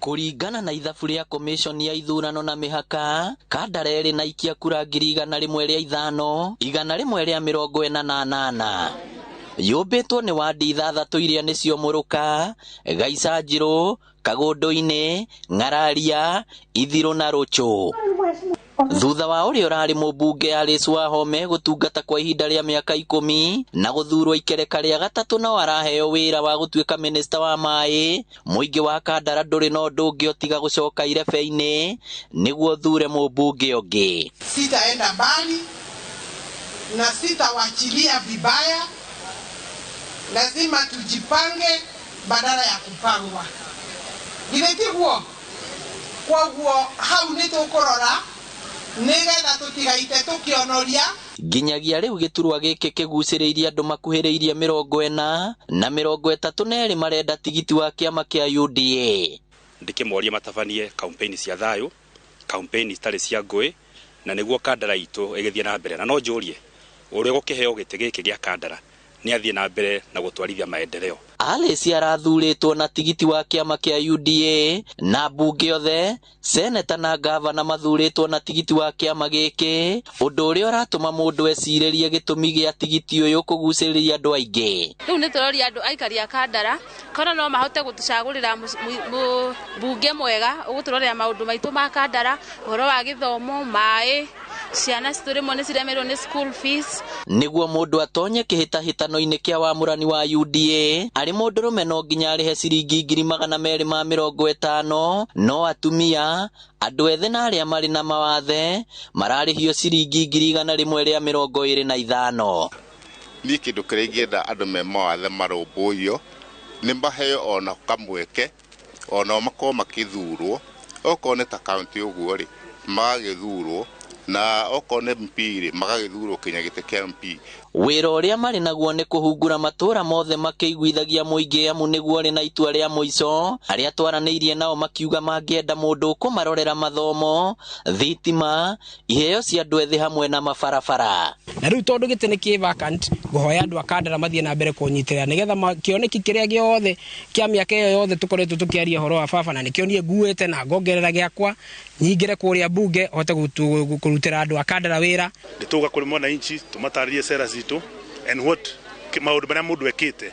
Kũringana na ithabu rĩa komĩshoni ya ithurano na mĩhaka, Kandara ĩrĩ na ikia kura ngiri igana rĩmwe rĩa ithano, igana rĩmwe rĩa mĩrongo ĩna na anana. Yũmbĩtwo nĩ wadi ithathatũ iria nĩcio Mũrũka, Gaicanjirũ, Kagũndũ-inĩ, Ng'araria, Ithirũ na Rũchũ. Thutha wa ũrĩa ũrarĩ mũmbunge Alice Wahome gũtungata kwa ihinda rĩa mĩaka ikũmi na gũthurwo ikereka rĩa gatatũ no araheo wĩra wa gũtuĩka mĩnĩsta wa maĩ, mũingĩ wa Kandara ndũrĩ na ũndũ ũngĩ o tiga gũcoka irebe-inĩ nĩguo ũthure mũmbunge ũngĩ. Sitaenda mbali na sitawachilia vibaya, lazima tujipange badala ya kupangwa. Githĩ tiguo? Kwoguo hau nĩ tũkũrora nĩ getha tũtigaite tũkĩonoria. Nginyagia rĩu gĩturwa gĩkĩ kĩgucĩrĩirie andũ makuhĩrĩirie mĩrongo ĩna, na mĩrongo ĩtatũ na erĩ marenda tigiti wa kĩama kĩa UDA. Ndĩkĩmorie matabanie kaumpeini cia thayũ, kaumpeini citarĩ cia ngũĩ, na nĩguo Kandara itũ ĩgĩthiĩ na mbere. Na no njũrie, ũrĩa ũgũkĩheo gĩtĩ gĩkĩ gĩa Kandara nĩ athiĩ na mbere na gũtwarithia maendeleo. Alice arathurĩtwo na tigiti wa kĩama kĩa UDA na mbunge othe, seneta na ngavana mathurĩtwo na tigiti wa kĩama gĩkĩ, ũndũ ũrĩa ũratũma mũndũ ecirĩrie gĩtũmi gĩa tigiti ũyũ kũgucĩrĩria andũ aingĩ. Rĩu nĩ tũroria andũ aikari a Kandara. kana no mahote gũtũcagũrĩra mbunge mwega ũgũtũrorera maũndũ maitũ ma kandara ũhoro wa gĩthomo maĩ ciana citũ rĩmwe nĩ ciremerwo nĩ school fees Nĩguo mũndũ atonye kĩhĩtahĩtano-inĩ kĩa wamũrani wa UDA, arĩ mũndũrũme no nginya arĩhe ciringi ngiri magana merĩ ma mĩrongo ĩtano, no atumia, andũ ethĩ na arĩa marĩ na mawathe mararĩhio ciringi ngiri igana rĩmwe rĩa mĩrongo ĩrĩ na ithano. Niĩ kĩndũ kĩrĩa ingĩenda andũ me mawathe marũmbũiyo, nĩ maheo ona kamweke, onao makorwo magĩthurwo. Okorwo nĩ ta kauntĩ ũguo rĩ, magagĩthurwo, na okorwo nĩ MP rĩ, magagĩthurwo kinya gĩtĩ kĩa MP. Wĩra ũrĩa marĩ naguo nĩ kũhungura matũũra mothe makĩiguithagia mũingĩ amu nĩguo ũrĩ na itua rĩa mũico. Arĩa twaranĩirie nao makiuga mangĩenda mũndũ ũkũmarorera mathomo, thitima, iheo cia andũ ethĩ hamwe na mabarabara na rĩu tondũ gĩtĩ nĩ kĩ vacant ngũhoya andũ a kandara mathiĩ na mbere kũnyitĩrĩra nĩgetha ma- kĩoneki kĩrĩa gĩothe kĩa mĩaka ĩyo yothe tũkoretwo tũkĩaria ũhoro wa baba na nĩkĩo niĩ nguĩte na ngongerera gĩakwa nyingĩre kũrĩa mbunge hote gũtu- gũ- kũrutĩra andũ a kandara wĩra nä tå ga kå rä mwananchi tå matarä rie cera citå and what kä- maå ndå marä a må ndå ekä te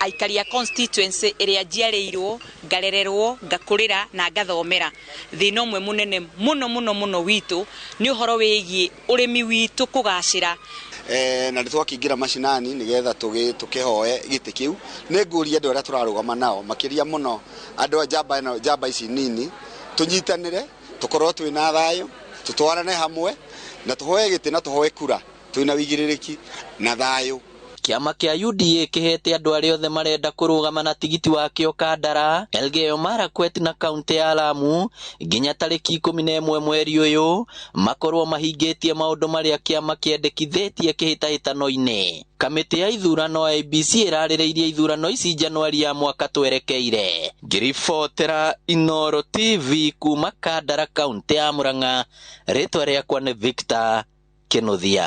aikari a constituency ĩrĩa njiarĩirwo ngarererwo ngakũrĩra na ngathomera thĩna ũmwe mũnene mũno mũno mũno witũ nĩ ũhoro wĩgiĩ ũrĩmi witũ kũgacĩra eh, na nĩ twakĩingĩra macinani nĩ getha tũkĩhoe gĩtĩ kĩu nĩ ngũria andũ arĩa tũrarũgama nao makĩria mũno andũ a njamba ĩno njamba ici nini tũnyitanĩre tũkorwo twĩ na thayũ tũtwarane hamwe na tũhoe gĩtĩ na tũhoe kura twĩ na wĩigĩrĩrĩki na thayũ Kĩama kĩa UDA kĩheete andũ arĩa othe marenda kũrũgama na tigiti wakĩo Kandara, Elgeyo Marakwet na kauntĩ ya Lamu nginya tarĩki ikũmi na ĩmwe mweri ũyũ makorwo mahingĩtie maũndũ marĩa kĩama kĩendekithĩtie kĩhĩtahĩtano-inĩ. Kamĩtĩ ya ithurano IEBC ĩrarĩrĩirie ithurano ici Januari ya mwaka twerekeire. Ngĩribotera Inooro TV kuma Kandara kauntĩ ya Murang'a, rĩtwa rĩakwa nĩ Victor Kĩnũthia.